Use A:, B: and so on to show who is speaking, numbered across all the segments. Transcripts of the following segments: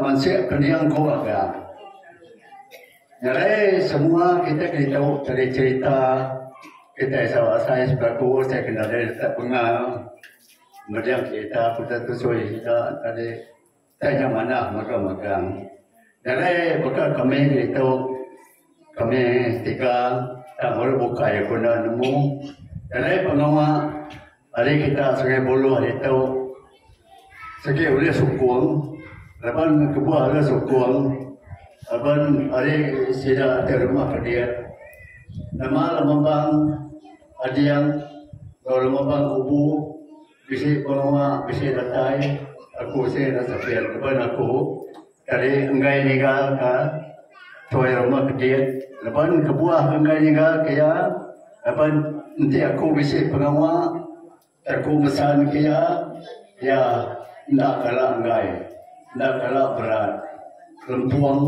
A: Mansik pening ku mega. Nyadi semua kitai ke ditu jadi cherita kitai sawa asai selaku utai ke nadai retak pengal meriang cherita putau tusui sida tadi tanya manah mega mega. Nyadi baka kami ditu. Kami setika enda memerlu bukai ku enda nemu jalai pengawa ari kita Sungai Buloh ditu sigi ulih sukung laban kebuah deka sukung laban ari sida ti rumah ke diak nama Lumambang Ading enggau Lumambang Kubu bisi pengawa bisi datai aku sien enda sepit laban aku Kadi enggai nyigar ka tuai rumah kedit laban kebuah ke enggai nyigar ka iya laban enti aku bisi pengawa ti aku mesan ka iya iya enda kala enggai enda kala berat lempung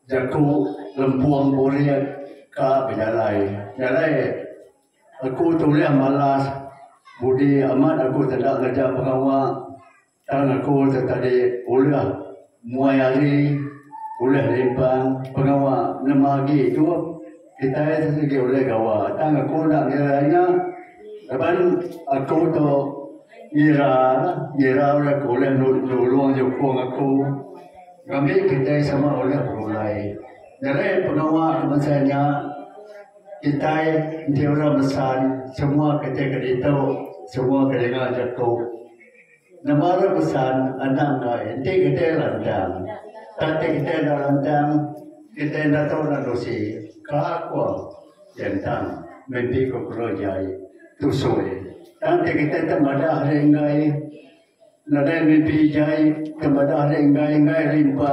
A: jaku lempung burit ka bejalai jalai aku tu ulih malas budi amat aku teda ngereja pengawa. Tang aku tu tadi ulah muai ari, ulah limpang pengawa nema agi tu kitai tu sigi ulih gawa. Tang aku enda ngira nya laban aku tu ngira lah, ngira udah ke ulih nulung nyukung aku ngambi kitai sama ulih begulai. Ngerein pengawa ke bansa nya kitai enti orang mesan semua kitai ke ditu, semua ke ninga jaku. Nebara pesan anang ai enti kitai rancang. Tang ti kitai enda rancang, kitai enda tau nerusi ka ko Sentang mimpi ko Kelo Jai tusoi. Tang ti kitai te madah ri enggai nadai mimpi jai te madah ri enggai enggai rimpa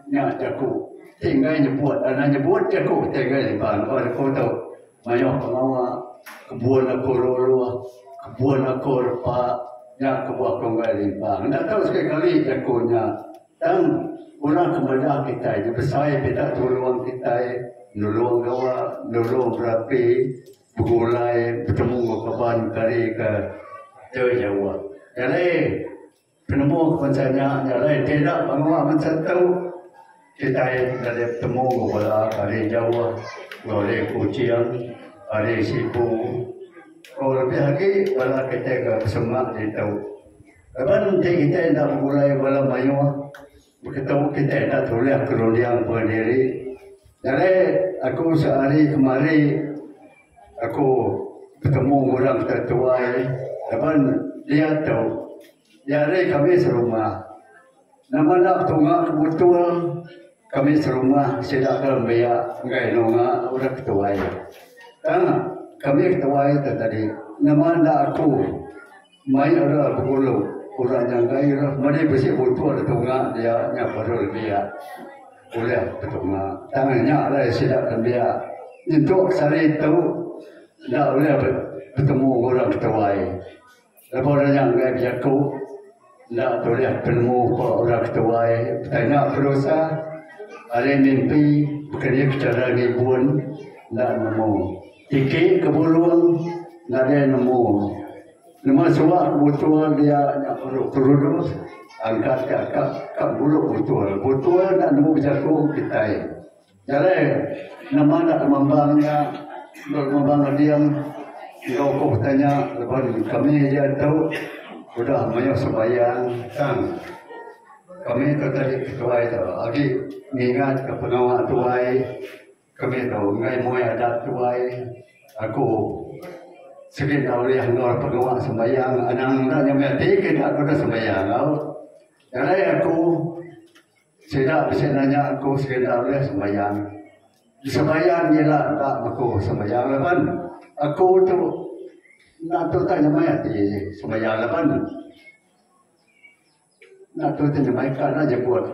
A: nya jaku ti enggai nyebut. Anang nyebut jaku ti enggai rimpa ko tau Mayuh pengawa kebun aku ruh-ruh, kebun aku repa nya kebuah Kongoi Limbang. Enda tau sekali-kali jaku nya tang orang ke madah kitai nya besai pida tulung kitai, nulung gawa, nulung berapi, begulai, betemu enggau kaban kari ke jauh-jauh. Nyadi. Penemu ke bansa nya nya alai ti enda menua bansa tu. Kitai enda deh betemu enggau bala ari jauh, enggau ari Kuching, ari Sibu enggau lebih agi bala kitai ke besemak ditu. Laban enti kitai enda begulai bala mayuh Beketu kitai enda tulih kerunding pengendiri. Nyadi aku sehari kemari aku betemu enggau orang ke tetuai laban dia tu iya ari kami serumah. Nama enda betunga ke butul kami serumah sida ke nembiak enggai nunga orang ke tuai. Tang kami ke tuai tu tadi nama enda aku. Mai era penghulu, orang nyangka ira meri bisi butul di tunga dia nya baru nembiak ulih ke tunga. Tang nya alai sida nembiak nyentuk ke sehari tu enda ulih betemu enggau orang ke tuai. Lebuh orang nya enggai bejaku enda tulih penemu ba orang ke tuai betanya ke dosa ari mimpi baka ni ke chara ngibun enda nemu. Tiki ke bulung nadai nemu. Nema suah ke butul dia nya perlu kerudus angkat ke akak ka ngulu butul. Butul enda nemu bejaku kitai. Jalai nama enda lemambang nya enggau lemambang ading enggau ku petai nya laban kami aja tu udah mayuh sembahyang tang kami tu tadi ke tuai tu agi ngingat ke pengawa tuai. Kami tu enggai muai adat tuai. Aku sigi enda ulih endur pengawa sembahyang. Anang enda nyamai ati ke enda aku deh sembahyang au. Jalai aku sida bisi nanya aku sigi enda ulih sembahyang. Sembahyang je ila enda beku sembahyang laban aku tu enda tu tau nyamai ati sembahyang laban. Enda tu ti nyemaika enda nyebut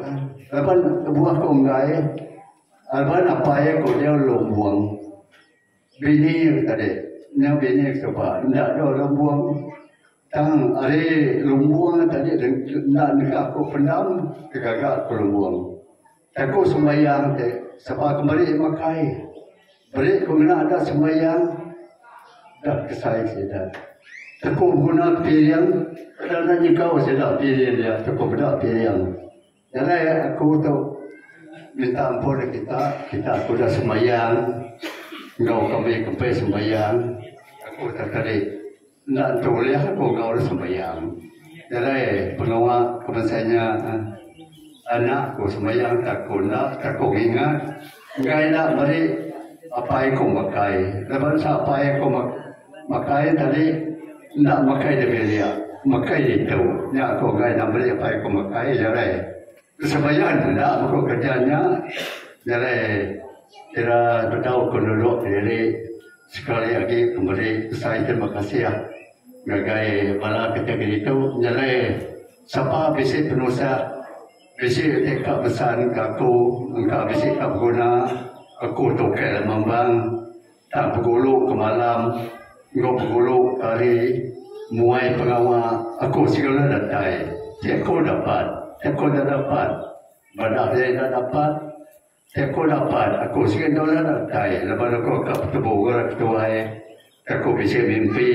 A: laban kebuah ku enggai laban apai iya ku dau lumbung bini iya ku tadi nya bini iya ku suba enda dau lumbung tang ari lumbung tadi enda neka aku pendam ke gaga aku lumbung. Jaku sembahyang ti sapa ke meri makai beri ku ngena adat sembahyang da kesai sida. Teku beguna ke piring peda enda nyegau sida piring dia teku peda piring. Jalai aku tu minta ampun neg kita, kita ku udah sembahyang enggau kami kempi sembahyang aku tak tadi. Enda tentu ulih aku gaul sembahyang. Nadai pengawa ke bangsa nya. Anak aku sembahyang ke aku enda ke aku ngingat. Enggai enda meri apai aku makai. Enda bansa apai aku makai tadi enda makai dibilik, makai ditu. Nya aku enggai enda meri apai aku makai jarai. Kesebayaan enda baka kereja nya jalai ira bedau ke nulung kediri sekali agi pemeri besai terima kasih ngagai bala kategori tu jalai sapa bisi penusah bisi ti ka besan ke aku engka bisi ka beguna aku tu ukai lema mambang. Tang pegulu ke malam enggau pegulu ke hari muai pengawa aku segera datai ti aku dapat ti aku enda dapat bala iya enda dapat ti aku dapat aku segera enda datai laban aku ka betebu enggau orang ketuai ke aku bisi mimpi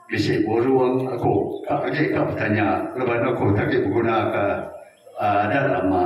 A: bisi burung aku ka agi ka betanya laban aku ti agi begunaka adat lama.